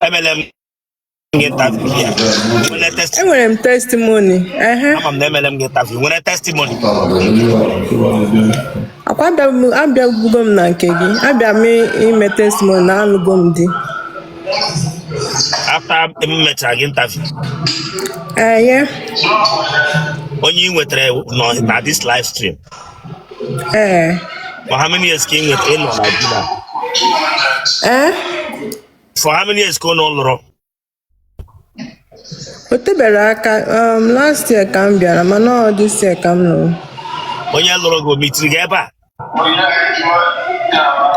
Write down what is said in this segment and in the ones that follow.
emele m gị interview ya nwere testimony enwere m testimony ehe ama m na emele m gị interview nwere testimony akwa abịabu- abịabugo m na nke gị abịa m ime testimony na alụgo m di after m mechara gị interview ehe onye ị nwetara nọ na this live stream ee for how many years ka ị nwetara ịnọ na di na ee for how many years ka unu lụrụ o teberọ aka um, last year ka m bịara mana ọ this year ka m lụrụ onye lụrụ gị o mitiri gị ebe a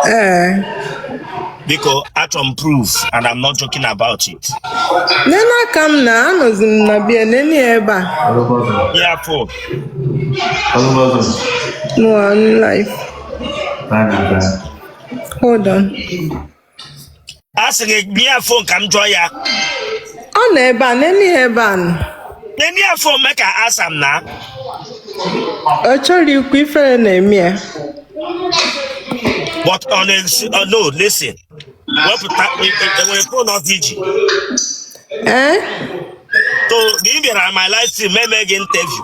ee biko achọrọ m proof and I'm not joking about it nene aka m na anọzi m na be ya nene ya ebe a ya fon ọ nọ live hold on a sị gị nye ya fon ka m jụọ ya ọ nọ ebe a nene ya ebe a nọ nye ya fon mee ka asa m na ọ chọrọ ikwu ifere na-eme ya but ọ na-esi ọ no listen wepụta e- e- enwere fon ọzọ i ji ee so na ị bịara my live stream m mee gị interview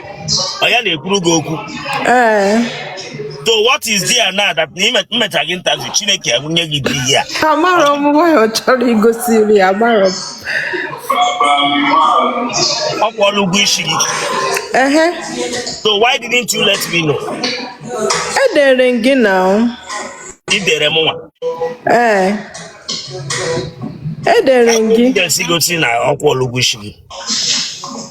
ọ ya na-ekwuru gị okwu ee so what is there now that na ime- m mecha gị interview chineke ebunye gị di ya amarọ m why ọ chọrọ igosi iru ya amarọ m ọ kwụọla ụgwọ isi gị ehe so why didn't you let me know edere m gị now. i dere m nwa ee edere m gị evidence gosi na ọ kwụọla ụgwọ isi gị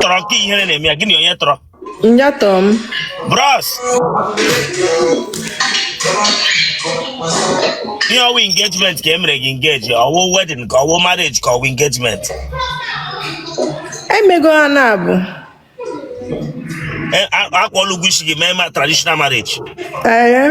tọrọ nke ihere na-eme ya gị na ya onye tọrọ Nya tọ m. bros ihe ọ wụ engagement ka e mere gị engage ọ wụ wedding ka ọ wụ marriage ka ọ wụ engagement Emego ha naabọ. E- a- akwụọla ụgwọ isi gị mee ma traditional marriage Ee.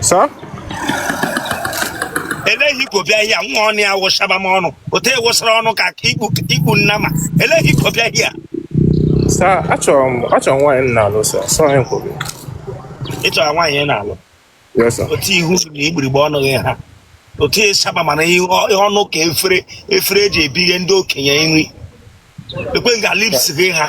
Sir? elee ihe ị bịara nga nwa ọnụ ya wụchaba m ọnụ otu ị wụsara ọnụ ka ikpu nnama elee ihe ị bịara nga Sir, achọrọ m achọrọ m nwaanyị m na-alụ sir. Sorry kwuru. ị chọrọ nwaanyị ị na-alụ Yes, sir. otu ihu gị na igbirigbe ọnụ gị ha otu ịsaba mana ihe ọ- ihe ọnụ ka efere efere e ji ebighe ndị okenye nri lekwe nga lips gị ha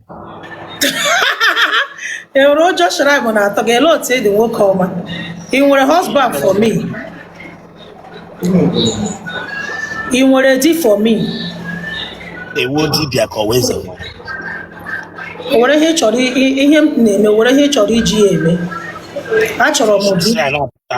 enwere ụjọ shrine na-atọ gị ele otu ị dị nwoke ọma ị nwere husband for me ị nwere di for me ị wụ dibịa ka ọ wụ eze nwere o nwere ihe ị chọrọ i- i- ihe m na-eme o nwere ihe ị chọrọ iji ya eme achọrọ m di Sị ya na-apụta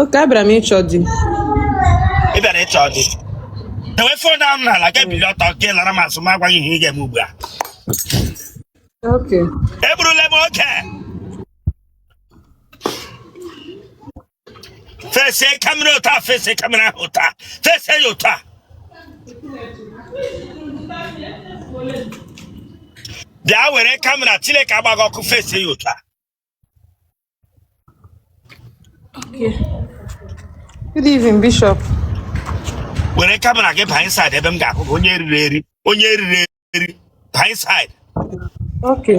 oke abịara m ịchọ di ị bịara ịchọ di dewe fon ahụ n'ala gị bili ọtọ gị lara m azụ m agwa gị ihe ị ga-eme ugbu a oke egburula m oge fesie kamera ụta fesie kamera ahụ ụta fesie ya ụta bịa were kamera Chineke agba gị ọkụ fesie ya ụta Good evening, Bishop. were kamera gị baa inside ebe m ga-ahụ gị onye eriri eri onye eriri eri baa inside Okay.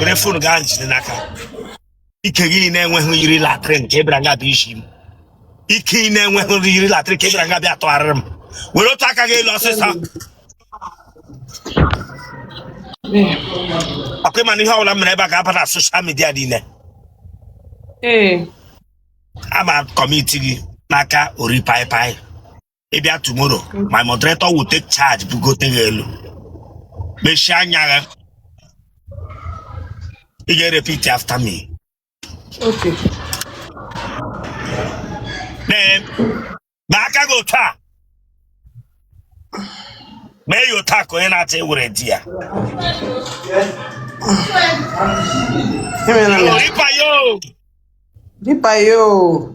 were fon gị a jide n'aka ike gị na-enweghị yiri latrị nke bịara nga bịa isi m ike ị na-enweghị yiri latrị nke bịara nga bịa tụgharịrị m welie otu aka gị elu ọsịsọ ọ kwa ị ma na ihe ọbụla m mere ebe a ga-aba na soshal midia niile Ee. ama kọmiti gị n'aka ori paịpaị ị bịa tomorrow my moderator will take charge bugote gị elu mechie anya gị ị ga-repeat after me Okay. mee aka gị otu a mee ya otu a ka onye na-achọ iwere di ya Emela m ya. Oripa yo Dịpa ya oo.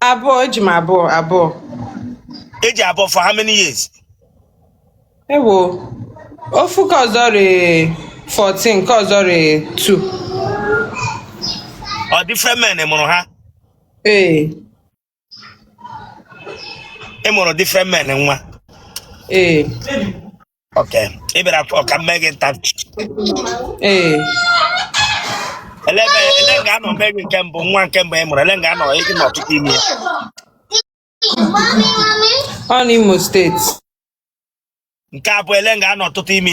abụọ eji m abụọ abụọ eji abụọ for how many years ewo ofu ka ọzọ rị 14 ka ọzọ rị 2 ọ different men mụrụ ha ee ị mụrụ different men nwa ee Okay. Ị bịara ka m mee gị nta. Ee. Ele ebe ele nga a nọ mee gị nke mbụ nwa nke mbụ ị mụrụ ele nga a nọ ị nọ tụta ime. Ọ n'Imo steeti. Nke abụọ ele nga ị nọ tụta ime.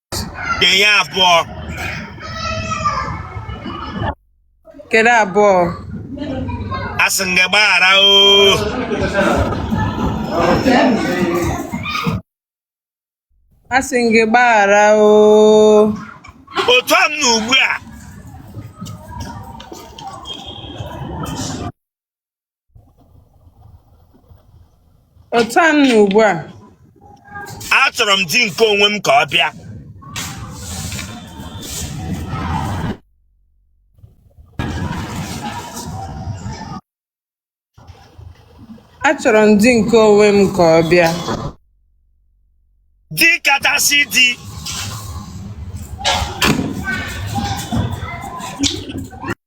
ga-enye abụọ kedu abụọ asị m gị gbaghara o asị m gị gbaghara o otu a m na ugbu a otu m nọ ugbu a achọrọ m di nke onwe m ka ọ bịa achọrọ m di nke onwe m ka ọ bịa di kachasị di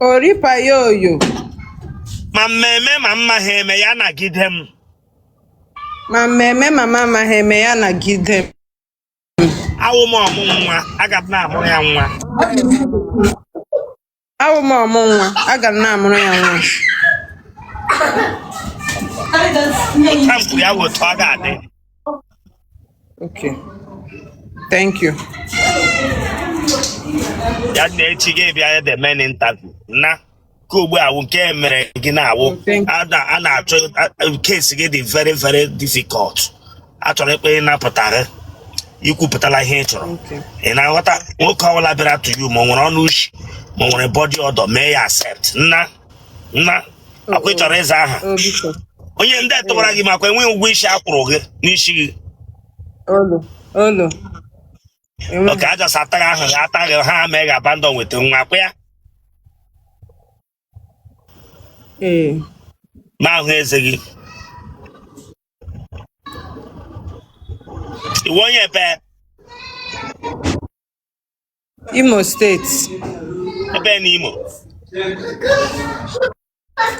oripa ya oyo ma m ma eme ma m amahị eme ya nagide m ma m ma eme ma m amahị eme ya nagide m awụ m ọmụ nwa aga m na-amụrụ ya nwa awụ m ọmụ nwa aga m na-amụrụ ya nwa ka m kwuru ya wụ otu ọ ga-adị Okay. Thank you. ya na echi gị bịa the main interview na ka ugbu a wụ nke e mere gị na-awụ Oh, thank- a na- a na-achọ case gị dị very very difficult a chọrọ ikpe ịnapụta gị ikwupụtala ihe ị chọrọ Okay. ị na-aghọta nwoke ọbụla bịara to you ma ọ nwere ọnụ ushi ma ọ nwere body odor mee ya accept nna nna akwa ị chọrọ ịza aha o biko onye ndị tụwara gị makwa enweghị ụgwọ isi a kwụrụ gị n'isi gị olo olo enweghị okay a just ataghị ahụ gị ataghị ha mee gị abandon nweta nwa akwa ya ee ma ahụ eze gị ị wụ onye ebe Imo State. Ebe na Imo.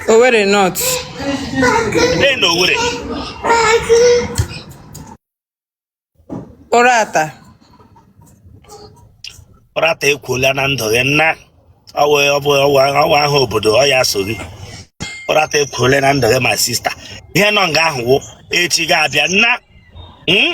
Owerri North. Ebe na Owerri. Uratta. Uratta ekwuola na ndụ gị nna ọwa ahụ obodo ọ ya so gị Uratta ekwuola na ndụ gị my sister ihe nọ nga ahụ wụ echi gị abịa nna hmm?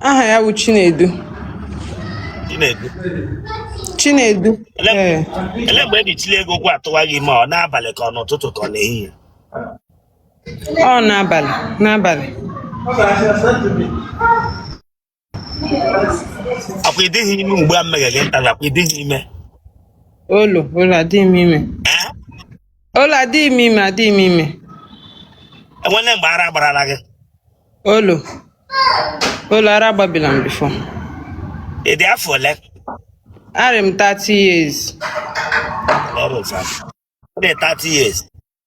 aha ya bụ Chinedu Chinedu Chinedu ee ele mgbe e ji chilie gị ụkwụ atụwa gị ime ọ n'abalị ka ọ n'ụtụtụ ka ọ n'ehihie ọ n'abalị n'abalị akwa ịdịghị ime ugbu a mmeghe gị ntara akwa ịdịghị ime Olo, olo adịghị m ime. ee Olo adịghị m ime, adịghị m ime. enwele mgbe ara gbarala gị Olo. Olo ara agbabila m before. ị dị afọ ole Arị m 30 years. Ọrụ ụfọdụ. Ọ dị 30 years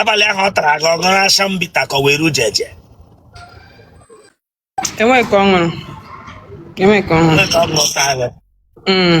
abalị ahụ ọ tara gị ọ ṅụrụ Action Bitter ka ọ wụ Erujeje enweghị ka ọ ṅụrụ enweghị ka ọ ṅụrụ Onye ka ọ ṅụrụ taa gị? Mm.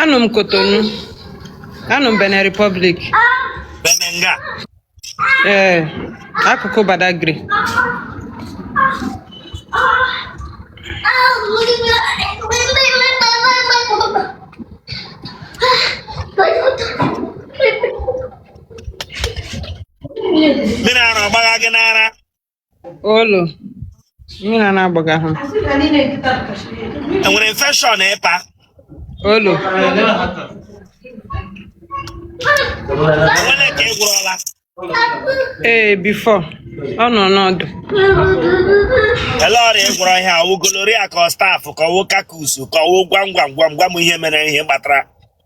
Anọ m Cotonou. Anọ m Benin Republic. Benenga. Ee, akụkụ Badagry. Mmiri ara ọ gbagha gị n'ara. Olo. Mmiri a na-agbaga ha. enwere infection ị pa Olo. enwere ka ị gwọrọla Ee, before. Ọ nọọna ọdụ. ele ọrịa ị gwọrọ ihe ọ wụ gonorrhea ka ọ staph ka ọ wụ coccus ka ọ wụ gwa m gwa m gwa m gwa m ihe mere ihe gbatara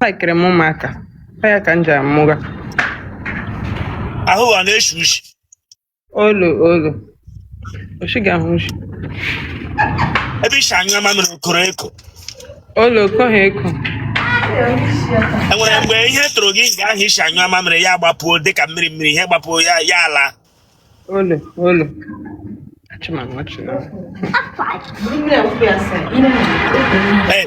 likiri m ụmụaka ọ ya ka m ji amụga ahụ a na-eshi ushi olo olo o shi ga-ahụ ushi ebe i shi anyụ mamịrị o koro eko olo o koghị eko enwere mgbe ihe tụrụ gị nga ahụ i shi anyụ mamịrị ya gbapuo dịka mmiri mmiri ihe gbapuo ya ya ala olo olo achịma m ọchị na Ee,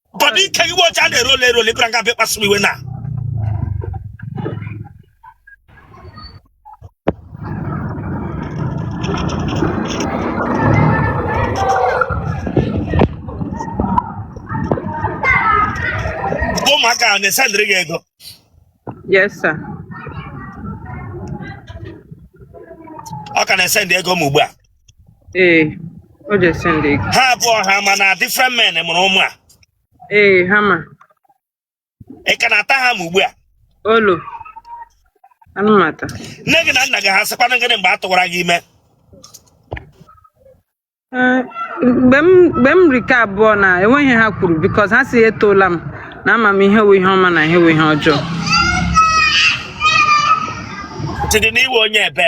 Bọdụ ike gị ọcha na-ere ole ere ole ị bịara nga bịa kpasu m iwe na. Ụmụaka ahụ na-esendịrị gị ego. Yes, sir. Ọ ka na-esendị ego m ugbu a. ee o je send ego ha abụọ ha ma na different men mụrụ ụmụ a ee ha ma ị ka na-ata ha ma ugbu a olo anaghị m ata nne gị na nna gị ha sịkwana gịnị mgbe a tụwara gị ime Ee, mgbe m mgbe m ri ke abụọ na enweghị ihe ha kwuru because ha sị etoola m na ama m ihe wụ ihe ọma na ihe wụ ihe ọjọọ chidi na ị wụ onye ebe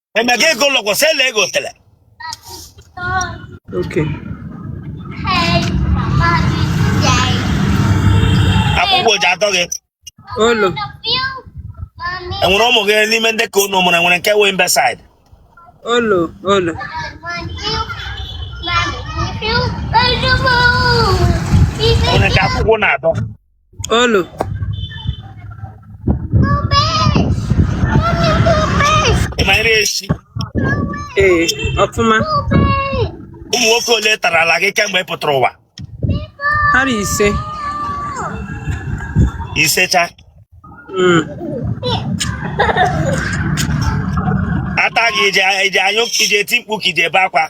Emeka ego lọgwọ sị ele ego tele. Okay. Akwụkwọ ji atọ gị. Olo. Enwere ụmụ gị n'ime ndị ka unu mụrụ enwere nke wụ imbecile. Olo. Olo. Enwere nke akwụkwọ na-atọ. Olu. Ị mara echi. Ee, ọfụma. Ụmụ nwoke ole tarala gị kemgbe ị pụtara ụwa? Ha bụ ise. Ise cha. Mm. A ta gị ị je ị je anyụ ị je eti mkpu ka ị je ebe akwa.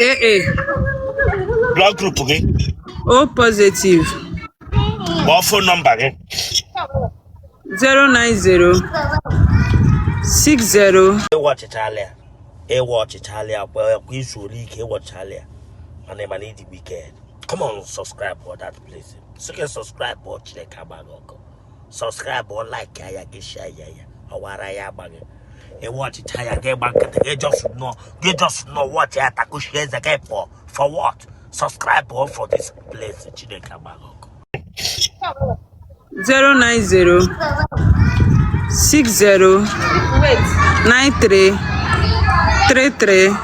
ee e. blood group gị o positive kpọọ phone number gị 090 60 ị watchịchala ya ị watchịchala ya kwa kwa i zuole ike ị watchịchala ya mana ị ma na ị dị wicked come on subscribe for that place sị gị subscribe o chineke agba gị ọkụ subscribe like ya gị share ya ya ọwara ya agba gị ị watchịcha ya gị gba nkịtị gị just nọ gị just nọ watch ya takuchie eze gị pụọ for what subscribe o for this place chineke agba gị ọkụ 090 60 93 33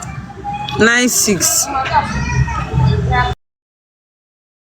96